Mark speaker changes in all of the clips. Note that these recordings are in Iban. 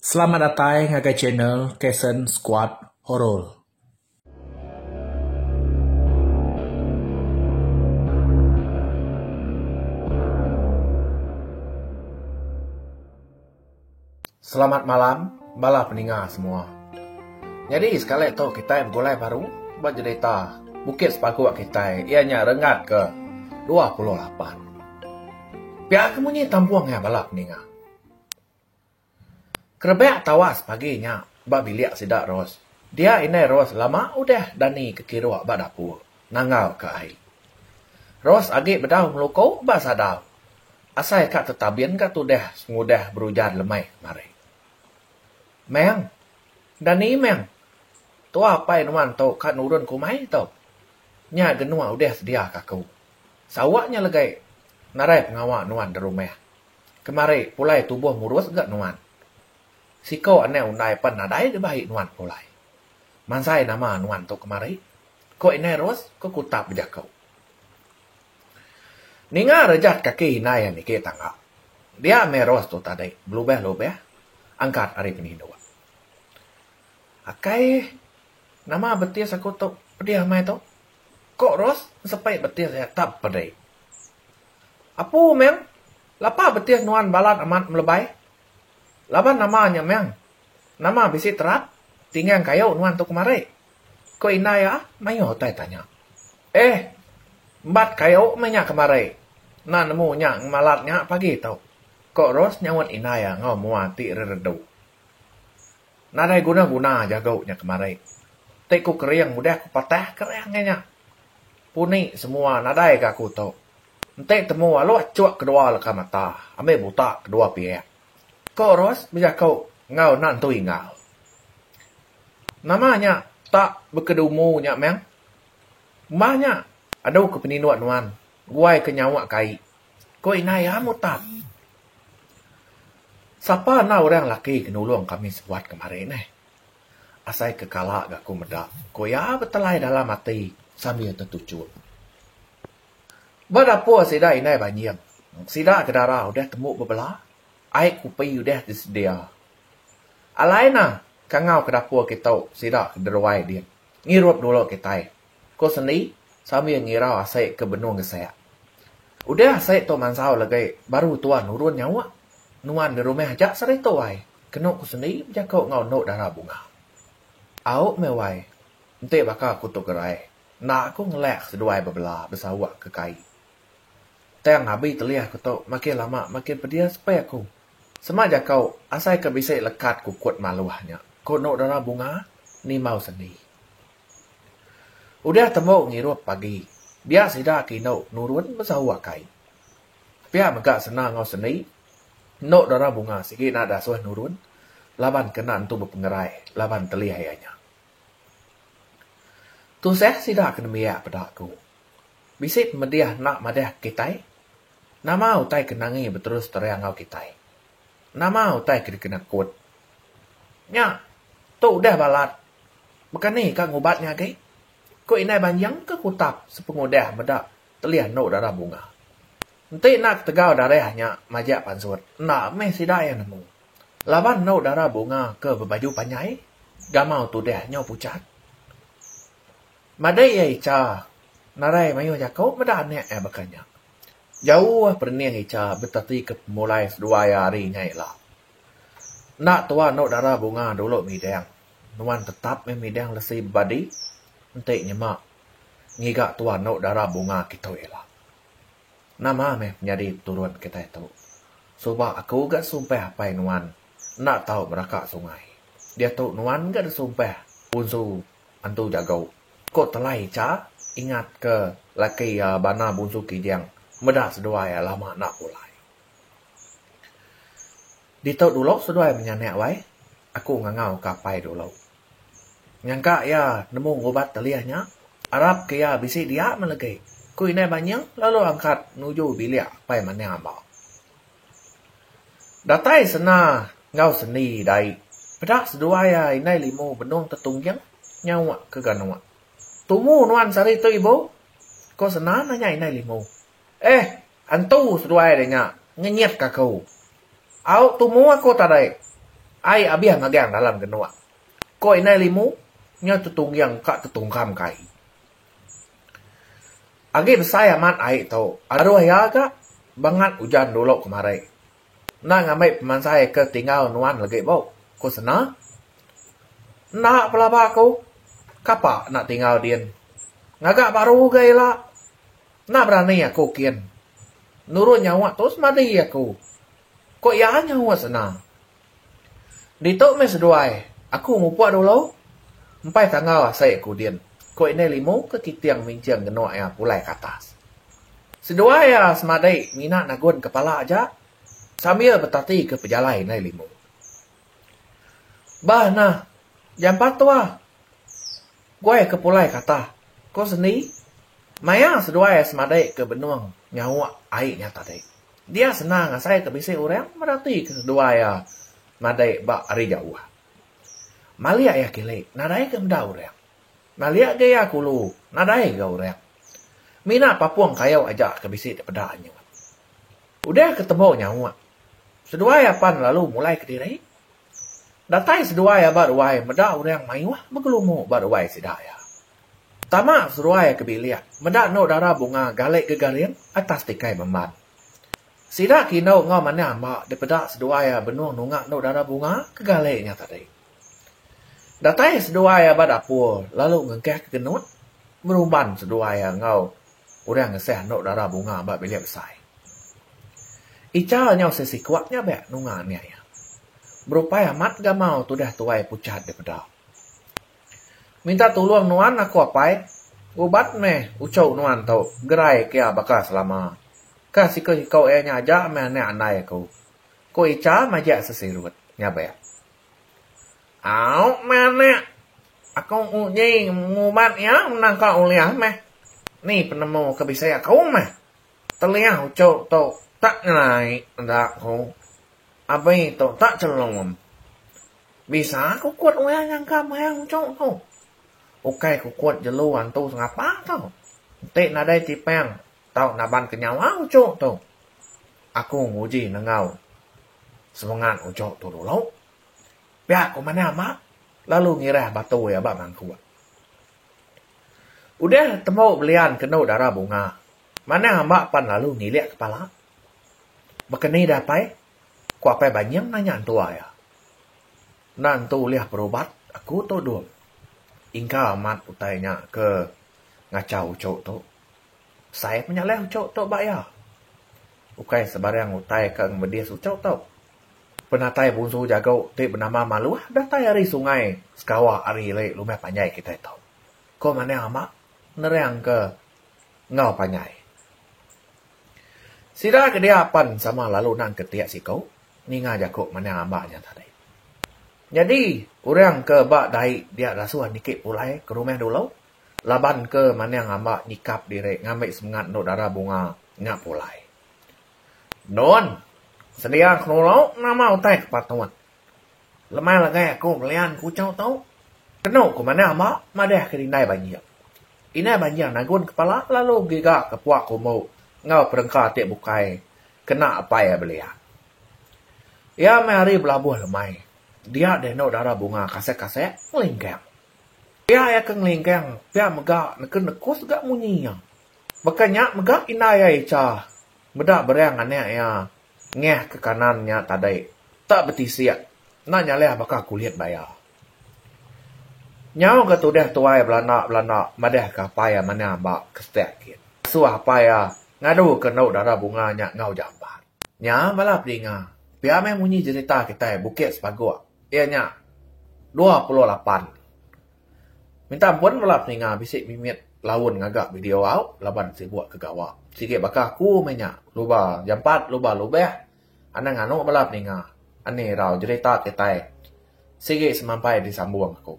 Speaker 1: Selamat datai ngagai channel Kason Squad Horror. Selamat malam bala peninga semua. Nyadi sekali tu kitai begulai baru ba jerita Bukit Sepaguk kitai iya nya Rengat ke dua puluh lapan. Pia ke munyi tampung iya bala peninga. Kerebak tawas pagi nya ba bilik sida Ros. Dia indai Ros lama udah dani ke kiruk ba dapur nangau ke ai. Ros agi bedau ngeluko ba sadau asai ka tetabin ga tudah sengudah berujan lemai kemari. Meng. Dani meng. Tua apai nuan tu ka nurun ke umai tu. Nya genuk udah sedia ka aku. Sawa nya legai narai pengawa nuan da rumah. Kemari pulai tubuh murus ga nuan. Siko anang undai pan nadai deba ai nuan pulai. Mansai nama nuan tu kemari? ko Indai Ros ko Kutap bejako. Ninga rejat kaki indai iya niki tangga. Dia meh Ros tu tadi belubah-lubah angkat ari penindu. Akai nama betis aku tu pedih meh tu. Ko Ros sepai betih iya tap pedei. Apu meng, lapa betih nuan balat amat melebai? Laban nama nya meng? Nama bisi terap tinggang kayu nuan tu kemari? Ko indai iya mayuh utai tanya. Eh! Embat kayu meh nya kemari. Enda nemu nya ngemalat nya pagi tu. Ko Ros nyaut indai iya enggau mua ti reredu. Nadai guna guna jago nya kemari. Ti ku kering udah ku patah kering aja nya. Puni semua nadai ga aku tu. Enti temu alu achuk kedua leka mata ambi buta kedua piak. Ko Ros bejaku enggau anak entu Inggau. Nama nya tak bekedumu nya meh. Umbah nya adu ke peninduk nuan guai ke nyawa kai. Ko indai am utan. Sapa enda orang laki ke nulung kami sebuat kemari neh. Asai ke kala ga ku meda, ku iya betelai dalam ati sambil tetuchuk. Ba dapur sida indai banjing. Sida ke dara udah tembu bebela, ai kopi udah disedia. Alai ne kangau ke dapur kitu sida ke deruai din ngirup dulu kitai. Ko Sendi sambil ngirau asai ke benung gesak. Udah asai tu mansau legai baru tuan nurun nyawa. Nuan di rumah aja seri tu wai, kenu ko Sendi bejako enggau endu dara bunga. Au meh wai, enti baka ko tu gerai, enda ko ngelak seduai bebela besauk ke kai. Tang abi telih ko tu makin lama makin pedis peh ko. Sema jako asai ke bisi lekat kukut maluh nya, ko endu dara bunga nimau Sendi. Udah tembu ngirup pagi, dia sida ke indu nurun besahu akai. Pia mega Sena enggau Seni, endu dara bunga sigi enda dasuh nurun laban kena entu bepengerai laban telih aya nya. Tusah sida ke nembiak peda aku. Bisi pemedih enda madah kitai? Nama utai ke nangi beterus terang enggau kitai? Nama utai ke dikena kut? Nya, tu udah balat. Bekani ka ngubat nya agi? Ku indai banjing ke kutap sepengudah meda telih endu darah bunga. Enti enda ketegal darah nya majak pansut, enda mih sida iya nemu. Laban endu darah bunga ke bebaju panjai, gamau tudah nyau puchat. Madei iya Icha narai mayuh jaku meda anak iya baka nya. Jauh perening Icha betatika pemulai seduai iya hari nya ila. Enda tua anu dara bunga dulu midang. Nuan tetap meh midang lesi bebadi enti nyema ngiga tua anu dara bunga kitu ila. Nama meh penyadi peturun kitai tu. Suba aku ga sumpah apai nuan enda tau meraka sungai. Diatu nuan ga disumpah punsu antu jago. Ko telai cha ingat ke laki iya bana bunsu kijang meda seduai lama enda pulai. Ditu dulu seduai menyanak wai aku ngangau ka apai dulu. Nyangka iya nemu ngubat telih nya arap ke iya bisi dia meh legi. Ku indai Banyuh lalu angkat nuju bilik apai manah amba. Datai sena enggau sendi dai peda seduai iya indai limu benung tetungging nyawa ke ganu. Tumu nuan sehari tu ibu? Ku sena nanya indai limu. Eh, antu seduai deh nya ngenyit ka aku. Au tumu aku tadi. Ai abih magang dalam genuk. Ko indai limu nya tetungging ka tetungkam ka ai. Agi besai amat ai tu. Aduh iya ga bangat ujan dulu kemari. Enda ngambi pemansai ke tinggal nuan legi bu, ku Sena. Enda pelaba aku. Kapa enda tinggal din. Ngaga baru ga ila. Enda berani aku kin. Nurun nyawa tu semadi aku. Ko iya nyaut sena. Ditu meh seduai aku mupuk dulu. Empai tangau asai aku din, ko indai limu ke kiting minching genuk iya pulai ke atas. Seduai iya semadi ngina nagun kepala aja sambil betati ke pejalai indai limu. Bah nah jampat tuah. Kuai ke pulai kata, Ko sendi, maya seduai semadai ke benung nyauk ai nya tadi, dia senang asai ke bisi orang merati ke seduai iya madai ba ari jauh. Malik iya kili nadai ga meda orang. Malik ga iya kulu nadai ga orang. Mina papung kayu aja ke bisi dipeda anyun. Udah ke tembu nyauk, seduai iya pan lalu mulai kediri. Datai seduai aba ruai meda orang maioh begelumu ba ruai sida iya. Tama seruai ke bilik meda endo dara bunga gali gegaring atas tikai memban. Sida ke indu enggau manah amba dipeda seduai iya benung nunga endo dara bunga ke gali nya tadi. Datai seduai aba dapur lalu ngegah ke genut ngerumban seduai iya enggau. Orang ngesah endo dara bunga ba bilik besai. Icha nyau sesikuat nyabak nunga anak iya. Berupai amat gamau tudah tuai puchat dipeda. Minta tulung nuan aku apai, ubat meh uchu nuan tu gerai kia baka selama. Ka siku-siku iya nya aja meh anak andai aku, ku Icha majak sesirut nyabak. Au manak. Aku uji ngubat iya enda ka ulih meh. Ni penemu ke bisi aku meh. Telih uchu tu tak nyelai enda ku. Abi tu tak chelum. Bisa kukut ulih nyangka mayang uchu tu. Ukai kukut jelu antu sengapa tu. Enti nadai tipang tau naban ke nyawa uchu tu. Aku nguji nenggau semengat uchu tu dulu. Pia ku manah mak lalu ngirah batu iya ba mangkuk. Udah temu belian kenu dara bunga, manah mak pan lalu ngilik kepala. Baka ni dah apai? ku apai Banying nanya entua iya. Enda entu ulih berubat aku tu Dung. Ingka amat utai nya ke ngachau uchu tu. Sai pun nya ulih uchu tu ba iya. Ukai sebarang utai ke ngemedis uchu tu. Penatai punsu jago ti benama Maluh datai ari sungai Sekawa ari ili Lumeh Panjai kitai tu. Ko Maning Ama nerangka enggau panjai. Sida ke dia apan sama lalu nang ke ti siku ninga jaku Maning Ama nya tadi. Nyadi orang ke ba dai dia dasuh niki pulai ke rumah dulu laban ke Maning Ama nyikap diri ngambi semengat endu dara bunga nya pulai. Nun, sedia kenulu nama utai ke patut. Leman legai aku ngelian kuchau tu, kenu ku manah ba madahka indai banjing. Indai banjing nagun kepala lalu gigaka puak umbu enggau perengka ti bukai kena apai iya belian. Iya meh hari belabuh lemai, dia deh enu dara bunga kasek-kasek ngelingkang. Pia iya ke ngelingkang, pia mega neken nekus ga munyi iya. Baka nya mega indai ai cha meda bereng anak iya ngeh ke kanan nya tadi tak betisik enda nyalih baka kulit ba iya. Nyau ga tudah tuai belanda belanda madah ke apai iya manah amba ke stek gin. Suah apai iya ngadu ke endu dara bunga nya enggau jamban. Nya bala pedinga pia meh munyi jerita kitai Bukit Sepagok iya nya dua puluh lapan. Minta ampun bala peninga bisi mimit laun ngaga video au laban sibuk ke gawa. Sigi baka aku meh nya luba jampat luba lubeh anang anu bala peninga ani rau jerita kitai sigi semampai disambung aku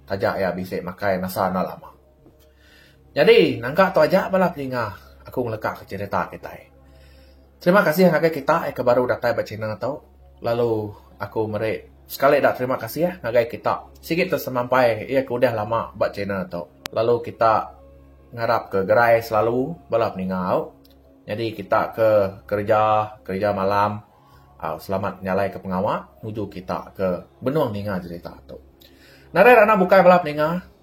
Speaker 1: taja iya bisi makai masa enda lama. Nyadi, nangka tu aja bala peninga aku ngelekaka cherita kitai. Terima kasih ngagai kitai ke baru datai ba channel tu, lalu aku meri sekali eda terima kasih ngagai kita sigi tu semampai iya ke udah lama ba channel tu. Lalu kita ngarap ke gerai selalu bala peninga au. Nyadi kita ke kereja, kereja malam au selamat nyalaika pengawa nuju kita ke benung ninga cherita tu. Nadai randau bukai bala peninga.